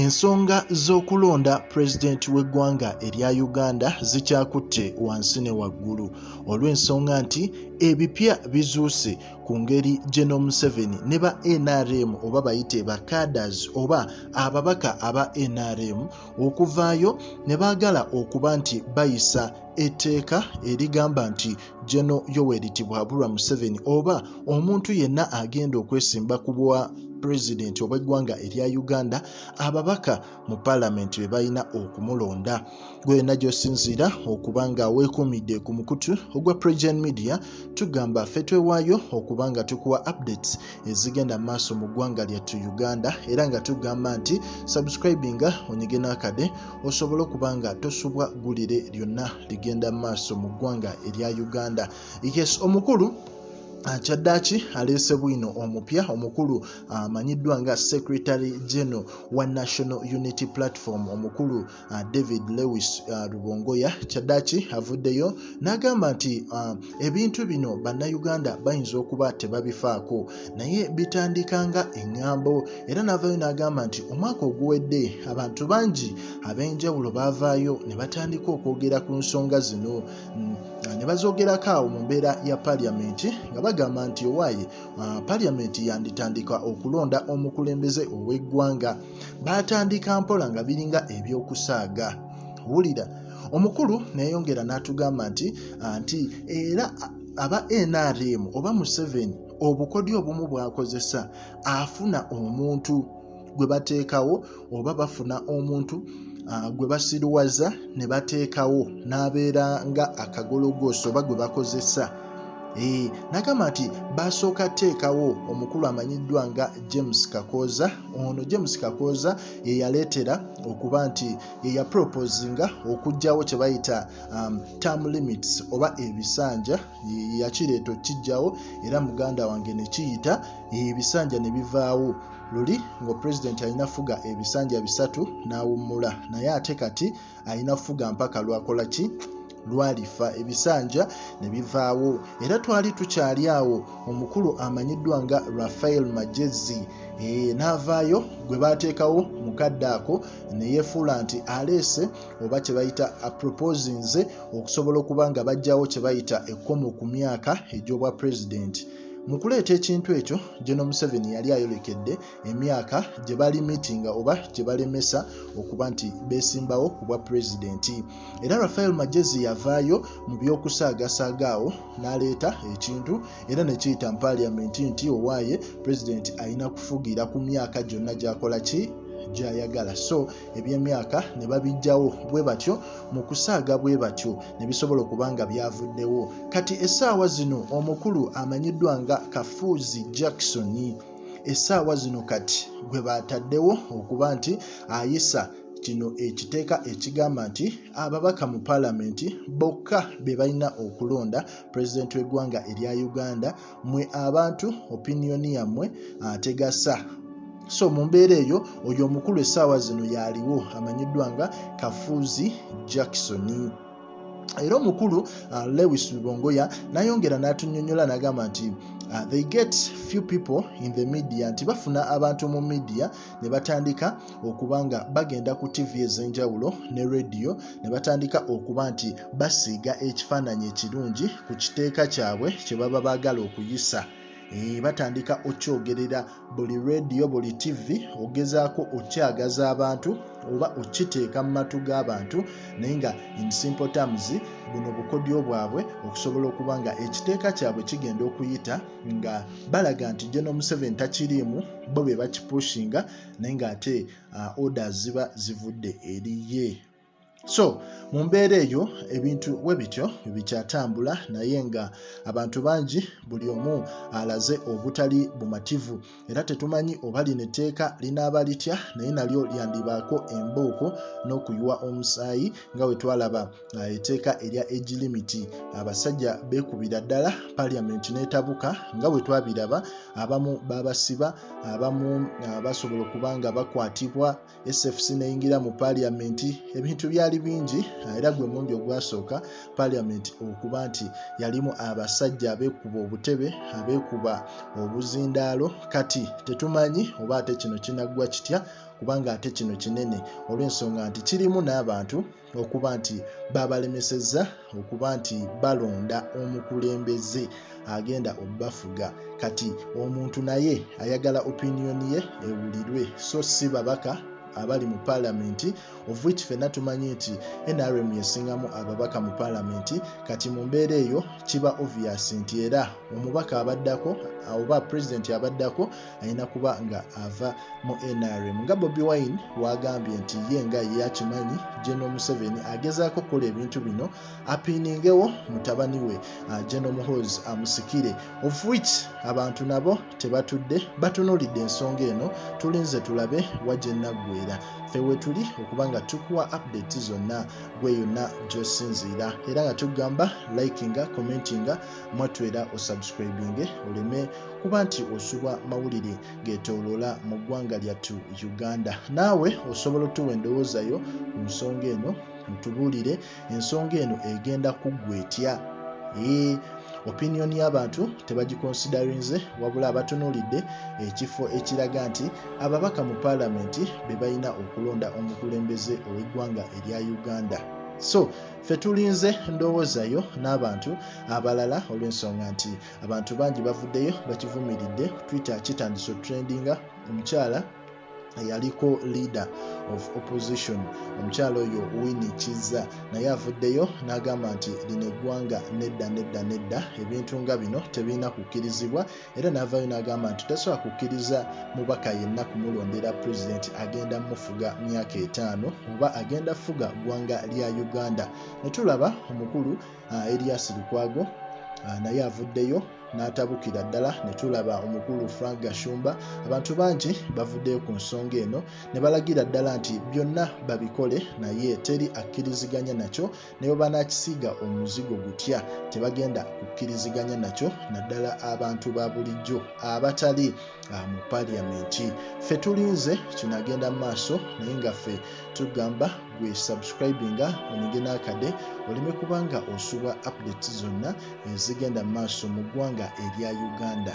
Ensonga z'okulonda pulezidenti w'eggwanga erya Uganda zikyakutte wansi ne waggulu olw'ensonga nti ebipya bizuuse ku ngeri General Museveni ne ba NRM oba bayite ba cadres oba ababaka aba NRM okuvaayo ne baagala okuba nti bayisa etteeka erigamba nti Geno Yoweri Tibuhaburwa Museveni oba omuntu yenna agenda okwesimba ku bwa pulezidenti obw'eggwanga erya Uganda ababaka mu paalamenti be balina okumulonda gwena gy'osinziira okuba nga weekuumidde ku mukutu ogwa Pregen Media tugamba ffe twewaayo okuba nga tukuwa updates ezigenda mu maaso mu ggwanga lyattu Uganda era nga tugamba nti subscribinga onyige n'akade osobole okuba nga tosubwa gulire lyonna ligenda mu maaso mu ggwanga erya uganda yes omukulu Ah, kyaddaaki aleese bwino omupya omukulu ah, amanyiddwa nga secretary general wa national unity platform omukulu ah, david lewis rubongoya kyaddaaki avuddeyo n'agamba nti Ebintu bino bannayuganda bayinza okuba tebabifaako naye bitandika nga eŋŋambo era n'avaayo n'agamba nti omwaka oguwedde abantu bangi ab'enjawulo baavaayo ne batandika okwogera ku nsonga zino mm, ne bazoogerako awo mu mbeera ya paliyamenti nga bagamba nti owaaye ah, paliyamenti yanditandika okulonda omukulembeze ow'eggwanga baatandika mpola nga biringa eby'okusaaga wulira omukulu neyongera n'atugamba nti ah, nti era aba nrm oba museveni obukodi obumu bwakozesa afuna omuntu gwe bateekawo oba bafuna omuntu ah, gwe basiruwaza ne bateekawo n'abeera nga akagologooso oba gwe bakozesa Eh, nagamba nti basooka teekawo omukulu amanyiddwa nga james kakooza ono james kakooza yeyaleetera okuba nti yeyaproposinga okugyawo kyebayita um, term limits oba ebisanja yakireeta okijjawo era muganda wange nekiyita ebisanja nebivaawo luli ngaopulezidenti alina fuga ebisanja bisatu nawummula naye ate kati alina fuga mpaka lwakola ki lwalifa ebisanja ne bivaawo era twali tukyali awo omukulu amanyiddwa nga rafael magezi e, n'avaayo gwe baateekawo mu kadde ako ne yeefuula nti aleese oba kye bayita aproposinze okusobola okuba nga bajjawo kye bayita ekkomo ku myaka egy'obwa pulezidenti mu kuleeta ekintu ekyo geno museveni yali ayolekedde emyaka gye balimitinga oba gye balemesa okuba nti beesimbawo ku bwa pulezidenti era rafael magezi yavaayo mu by'okusaagasaaga awo n'aleeta ekintu era ne kiyita mu paaliyamenti nti owaaye pulezidenti alina kufugira ku myaka gyonna gy'akola ki gyayagala so ebyemyaka ne babijjawo bwe batyo mu kusaaga bwe batyo ne bisobola okuba nga byavuddewo kati essaawa zino omukulu amanyiddwa nga kafuuzi jackson essaawa zino kati gwe baataddewo okuba nti ayisa kino ekiteeka ekigamba nti ababaka mu palamenti bokka be balina okulonda pulezidenti w'eggwanga erya uganda mwe abantu opiniyoni yammwe ategasa so mu mbeera eyo oyo omukulu essaawa zino yaaliwo amanyiddwa nga kafuuzi jackson era omukulu uh, lewis lubongoya nayongera n'atunyonyola n'agamba nti uh, they get few people in the media nti bafuna abantu mu media ne batandika okuba nga bagenda ku tv ez'enjawulo ne radio ne batandika okuba nti basiiga ekifaananyi ekirungi ku kiteeka kyabwe kye baba baagala okuyisa Eh, batandika okyogerera buli rediyo buli tv ogezaako okyagaza abantu oba okiteeka mu matu g'abantu naye nga insimple terms buno bukodyo bwabwe okusobola okuba nga ekiteeka kyabwe kigenda okuyita nga balaga nti jeno museveni takiriimu bo be bakipushinga naye nga ate uh, orders ziba zivudde eriye so mu mbeera eyo ebintu we bityo bikyatambula naye nga abantu bangi buli omu alaze obutali bumativu era tetumanyi oba lino etteeka linaaba litya naye nalyo lyandibaako embooko n'okuyiwa omusaayi nga we twalaba uh, etteeka erya age limiti abasajja beekubira ddala paliament n'etabuka nga we twabiraba abamu babasiba abamu uh, basobola okuba nga bakwatibwa sfc neyingira mu paliamenti ebintu byali bingi ah, era gwe mundi ogwasooka paliamenti okuba nti yalimu abasajja abekuba obutebe abekuba obuzindaalo kati tetumanyi oba ate kino kinaggwa kitya kubanga ate kino kinene olw'ensonga nti kirimu n'abantu okuba nti babalemesezza okuba nti balonda omukulembeze agenda obafuga kati omuntu naye ayagala opiniyoni ye ewulirwe so si babaka abali mu paalamenti ofwich fenna tumanyi nti nrm yesingamu ababaka mu paalamenti kati mu mbeera eyo kiba obvious nti era omubaka abaddako oba pulezidenti abaddako alina kuba nga ava mu nrm nga bobi wine wagambye nti ye nga yeyakimanyi geno museveni agezaako okukola ebintu bino apiiningewo mutabani we uh, geno muhoz amusikire of which abantu nabo tebatudde batunulidde ensonga eno tulinze tulabe wajenaggwera fewetuli okuba nga tukuwa update zonna gwe yonna gyosinziira era nga tugamba likinga commentinga mwatwera osubscribinge oleme kuba nti osubwa mawulire getoloola mu ggwanga lyattu uganda naawe osobola otuwa endowooza yo ku nsonga eno ntubuulire ensonga eno egenda kuggwa etya ee opinion y'abantu tebagikonsidarinze wabula abatunuulidde ekifo ekiraga nti ababaka mu paalamenti be balina okulonda omukulembeze ow'eggwanga erya uganda so ffe tulinze ndowoozayo n'abantu abalala olw'ensonga nti abantu bangi bavuddeyo bakivumiridde twitter kitandise otrendinga omukyala eyaliko leader of opposition omukyala oyo wini kizza naye avuddeyo n'agamba nti lino eggwanga nedda nedda nedda ebintu nga bino tebirina kukkirizibwa era n'avaayo n'agamba nti tasobola kukkiriza mubaka yenna kumulondera pulezidenti agenda mufuga myaka etaano oba agenda fuga ggwanga lya uganda ne tulaba omukulu ah, Elias Lukwago ah, naye avuddeyo n'atabukira ddala ne tulaba omukulu Frank Gashumba abantu bangi bavuddeyo ku nsonga eno ne balagira ddala nti byonna babikole naye teri akkiriziganya nakyo ne bwe banaakisiiga omuzigo gutya tebagenda kukkiriziganya nakyo naddala abantu ba bulijjo abatali ah, mu paliyamenti ffe tulinze kinaagenda mu maaso naye nga ffe tugamba gwe subscribinga onyige n'akade oleme kubanga osubwa update zonna ezigenda mu maaso mu ggwanga erya uganda